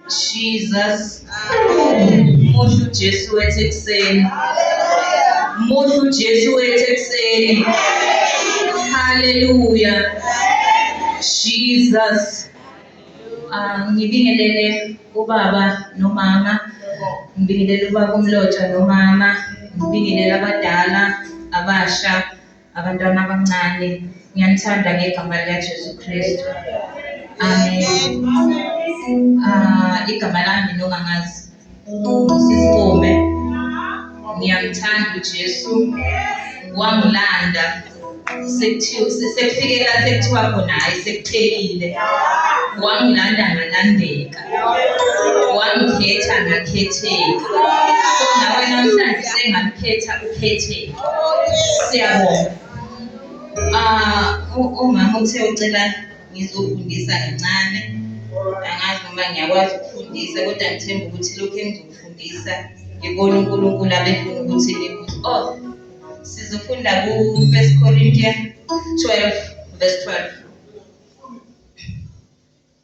Jesus. Muhle uJesu wethu ekuseni. Muhle uJesu wethu ekuseni. Haleluya. Jesus. Ah, ngibingelele ubaba nomama. Ngibingelele ubaba umlotshwa nomama. Ngibingelele abadala abasha. abantwana abancane ngiyanithanda ngegama likaJesu Kristu amen ah igama lami nongangazi sisikume ngiyamthanda uJesu wangilanda sekuthiwa sekufikela sekuthiwa khona hayi sekuphelile wangilanda ngalandeka wangikhetha ngakhetheka so nawe namhlanje sengamkhetha ukhetheka siyabonga um umama uthe ucela ngizofundisa kancane angazi noma ngiyakwazi ukufundisa kodwa ngithemba ukuthi lokhu engizokufundisa ngibona unkulunkulu abefuna ukuthi nikuthi oh sizofunda ku-first corinthian 12 verse 12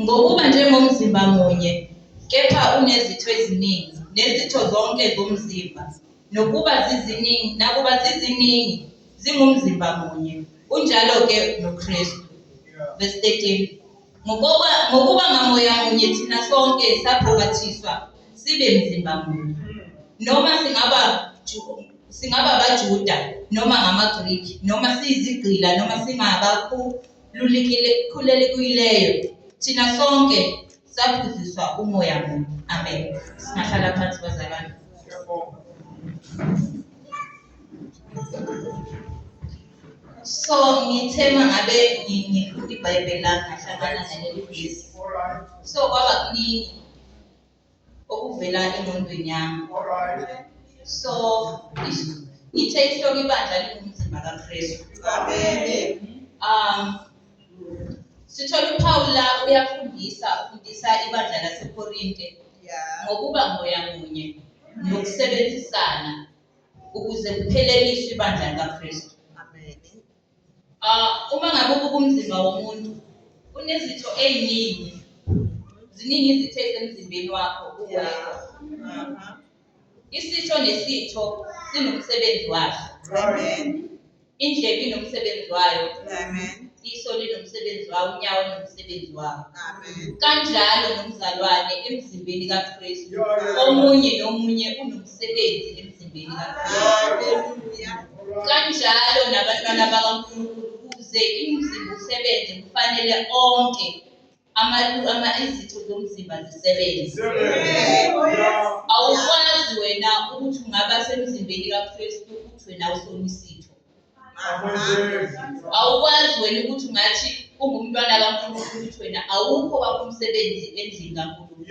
Ngokuba njengomzimba munye, kepha unezitho eziningi, nezitho zonke zomzimba, nokuba ziziningi, nakuba ziziningi, zingumzimba munye, unjalo-ke noKristu. Verse 13. Ngokuba, ngokuba ngamoya munye thina sonke saphakathiswa sibe mzimba munye. Noma singaba Singaba abaJuda noma ngamaGriki, noma siyizigqila noma singabakhulelekileyo, thina sonke saphuziswa umoya munye. Amen. Singahlala phansi bazalwane. So ngithe mangabe ngifunda iBhayibheli lami ngahlangana naleli vesi. So kwaba kuningi okuvela engqondweni yami so ngithe ihloko ibandla lingumzimba kakristu um sithola uphawula uyafundisa ufundisa ibandla lasekorinte ngokuba moya munye nokusebenzisana ukuze kupheleliswe ibandla likakristu Uh, uma ngabe ubuka umzimba womuntu unezitho ey'ningi ziningi izitho ezisemzimbeni wakho uwedwa isitho nesitho sinomsebenzi waso indlebe inomsebenzi wayo iso linomsebenzi wawo unyawo unomsebenzi wawo kanjalo nomzalwane emzimbeni kakristu omunye nomunye unomsebenzi umsebenzi emzimbeni kanjalo nabantwana bakaNkulunkulu ukuze imizimba usebenze kufanele onke izitho zomzimba zisebenze awukwazi wena ukuthi ungaba semzimbeni kaKristu uthi wena usona isitho awukwazi wena ukuthi ungathi ungumntwana kaNkulunkulu ukuthi wena awukho wakho umsebenzi endlini kaNkulunkulu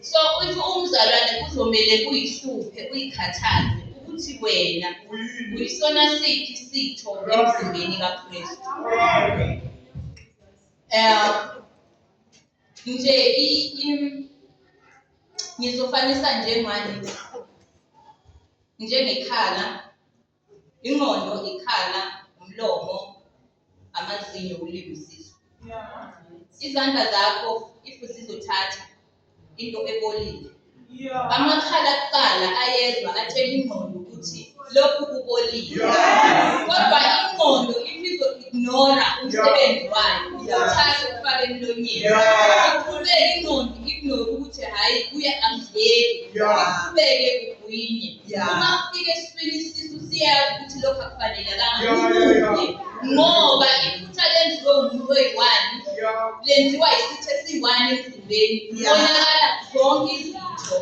so if umzalwane kuzomele kuyihluphe uyikhathaze ukuthi wena uyisona siphi isitho emzimbeni kaKristu um nje ngizofanisa njengani njengekhala, ingqondo, ikhala, umlomo, amazinyo, ulimi, isisu. Izandla zakho if zizothatha into ebolile. Amakhala kuqala ayezwa atshela ingqondo ukuthi lokhu kubolile. Kodwa ingqondo if izo-ignora umsebenzi wayo, uthathe ufake emlonyeni. Iqhubeke ingqondo ignore ukuthi hhayi kuye angidleki. Iqhubeke uyinye uma kufika esimeni isisu siyazi ukuthi lokhu akufanelekanga ubuke ngoba iphutha lenziwe umuntu oyi-one lenziwa isitho esiyi-one emzimbeni konakala zonke izitho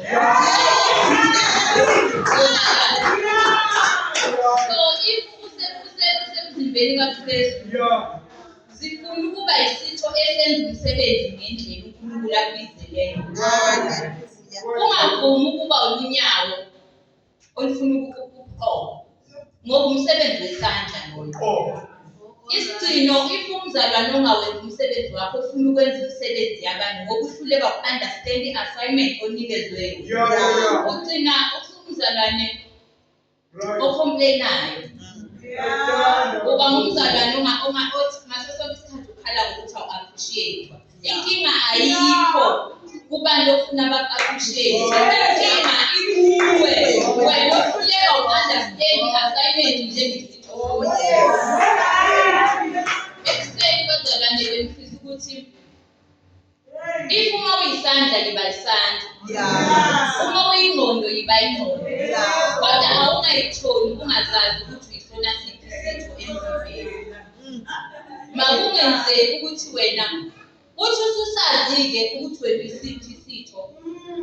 so if usemzimbeni kakristu zifuna ukuba yisitho esenza umsebenzi ngendlela unkulunkulu akubizeleyo Ungavumi ukuba ulunyawo olufuna ukuqoka, ngoba umsebenzi wesandla ngoqoka. Isigcino if umzalwane ongawenzi umsebenzi wakho ufuna ukwenza imisebenzi yabanye ngoba uhluleka ku-understand i-assignment onikezwe yona. Ugcina umzalwane ocomplainayo uba ngumzalwane othi ngaso sonke isikhathi ukhala ngokuthi awu-appreciate-wa inkinga ayikho kubantu ofuna ba-appreciate inkinga ikuwe wena ohluleka u-understand i-assignment njengesithokoza If uma uyisandla yiba isandla. Yeah. Uma uyingqondo yiba ingqondo. Yeah. Kodwa awungayitholi ungazazi ukuthi uyifuna siphi isitho emzimbeni. Makungenzeki ukuthi wena uthi ususazi-ke ukuthi wena isiphi isitho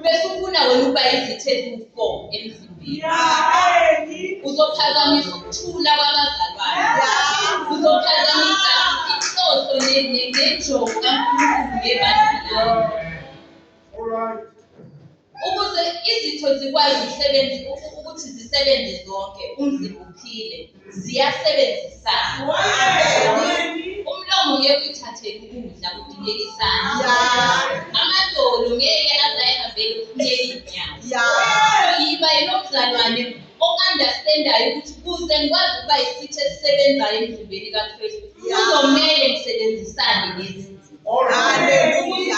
bese ufuna wena ukuba izithethe ufo emzimbeni uzophazamisa ukuthula kwabazalwane uzophazamisa inhloso nenjongo kaNkulunkulu yebandla ukuze izitho zikwazi ukusebenza ukuthi zisebenze zonke umzimba uphile ziyasebenzisana umlomo ngeke uyithathele ukudla kudingeka isandla amadolo ngeke azayihambele ukunyela iy'nyawo yiba yilomzalwane o-understandayo ukuthi kuze ngikwazi ukuba yisithi esisebenzayo emzimbeni kakristu kuzomele ngisebenzisane nezinto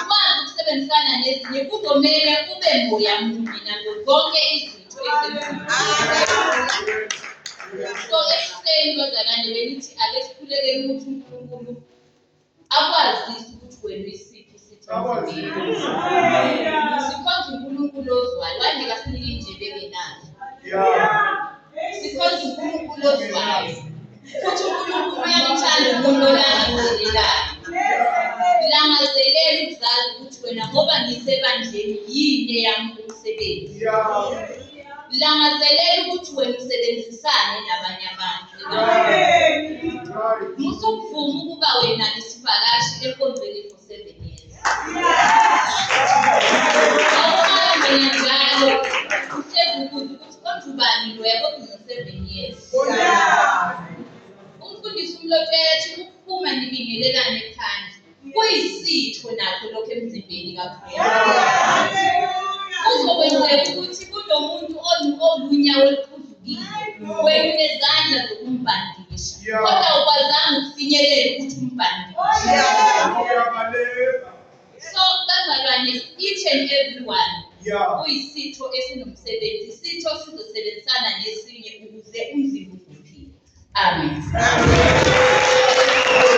ukwazi ukusebenzisana nezinye kuzomele ube moya munye nazo zonke izinto So ekuhleni bazalwane bengithi ake sikhulekele ukuthi uNkulunkulu akwazise ukuthi wena isiphi isitho sikhonza uNkulunkulu ozwayo wangeka sinike indlebe engenayo sikhonza uNkulunkulu ozwayo futhi uNkulunkulu uyakuthanda umuntu olangazelelayo. Langazelela ukuzazi ukuthi wena ngoba ngisebandleni yini eyami umsebenzi. Langazelela ukuthi wena usebenzisane nabanye abantu. Musukuvuma ukuba wena isivakashi enkonzweni for seven years. Awuhambe njalo uhlezi ukuze Kodwa ubani loya kodwa uno-seven years. Umfundisi umlotshela athi ukuphuma nibingelelane phandle kuyisitho nakho lokho emzimbeni kakhulu. Kuzokwenzeka ukuthi kunomuntu onu- olunyawo oluphuzukile wena unezandla zokumbhandisha kodwa awukwazanga ukufinyelela ukuthi umbhandishe. So bazalwane each and everyone Yeah. kuyisitho esinomsebenzi isitho sizosebenzisana nesinye ukuze umzimba uphile. Amen.